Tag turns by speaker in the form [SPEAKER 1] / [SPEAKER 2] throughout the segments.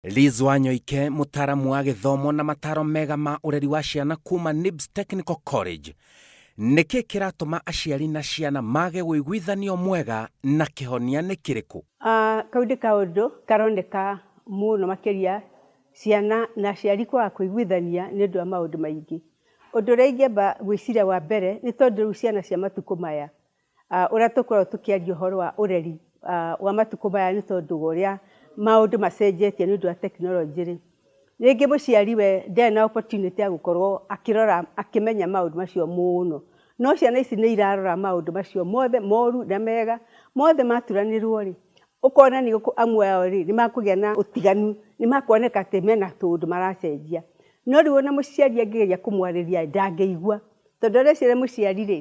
[SPEAKER 1] Liz Wanyoike, mũtaaramu wa gĩthomo na mataro mega ma ũreri wa ciana kuma NIBS Technical College. Nĩkĩ kĩratũma aciari na ciana mage wĩiguithanio mwega na kĩhonia nĩ kĩrĩkũ? Ah, kau nĩ
[SPEAKER 2] kaũndũ karoneka mũno makĩria ciana na aciari kwaga kũiguithania nĩ ũndũ wa maũndũ maingĩ. Ũndũ ũrĩa ingĩamba gwĩciria wa mbere, nĩ tondũ rĩu ciana cia matukũ maya Ũrĩa tũkoragwo tũkĩaria ũhoro wa ũreri wa matukũ maya nĩ tondũ wa ũrĩa maũndũ macenjetie nĩ ũndũ wa tekinoronjĩ rĩ, rĩngĩ mũciari we ndarĩ na opportunity ya gũkorwo akĩrora, akĩmenya maũndũ macio mũno. No ciana ici nĩ irarora maũndũ macio mothe moru na mega, mothe maturanĩrwo rĩ, ũkona nĩ amwe ao rĩ, nĩ makũgĩa na ũtiganu, nĩ makuoneka atĩ mena tũũndũ maracenjia. No rĩu ona mũciari angĩgeria kũmwarĩria rĩ, ndangĩigua. Tondũ arecirĩria mũciari rĩ,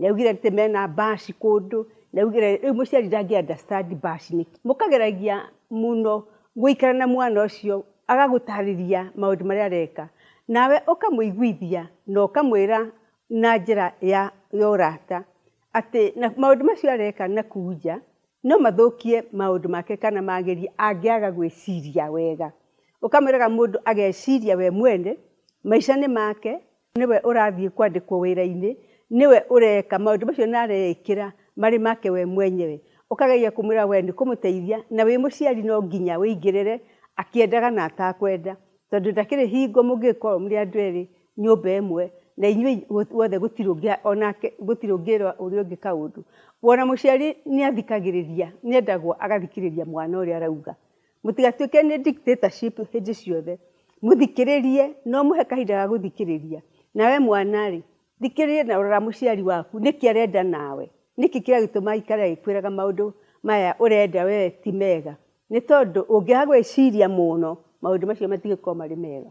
[SPEAKER 2] Nĩaugire atĩ mena bash kũndũ, nĩaugire rĩu mũciari ndangĩ understand bash nĩkĩ. Mũkageragia mũno gũikara na mwana ũcio agagũtarĩria maũndũ marĩa areka, nawe ũkamũiguithia na ũkamwĩra na njĩra ya ya ũrata atĩ na maũndũ macio areka na kũu nja no mathũkie maũndũ make kana magerie angĩaga gwĩciria wega. Ũkamwĩraga mũndũ ageciria we mwene maica nĩ make. Nĩwe ũrathiĩ kwandĩkwo wĩra-inĩ, nĩwe ũreka maũndũ macio na areĩkĩra marĩ make we mwenyewe, ũkageria kũmwĩra we nĩ kũmũteithia, na wĩ mũciari no nginya wĩingĩrĩre akĩendaga na atakwenda, tondũ ndakĩrĩ hingo mũngĩgĩkorwo mũrĩ andũ erĩ nyũmba ĩmwe na inyuĩ inyuothe gũtirĩ ũngĩ onake gũtirĩ ũngĩra ũrĩa ũngĩ kaũndũ. Ona mũciari nĩ athikagĩrĩria, nĩ endagwo agathikĩrĩria mwana ũrĩa arauga, Mũtigatuĩke nĩ dictatorship hĩndĩ ciothe. Mũthikĩrĩrie, no mũhe kahinda ga gũthikĩrĩria. Na we mwana-rĩ, thikĩrĩria na rora mũciari waku nĩkĩ arenda nawe. Nĩkĩ kĩragĩtũma aikare agĩkwĩraga maũndũ maya ũrenda we ti mega. Nĩ tondũ ũngĩaga gwĩciria mũno, maũndũ macio matigũkorwo marĩ mega.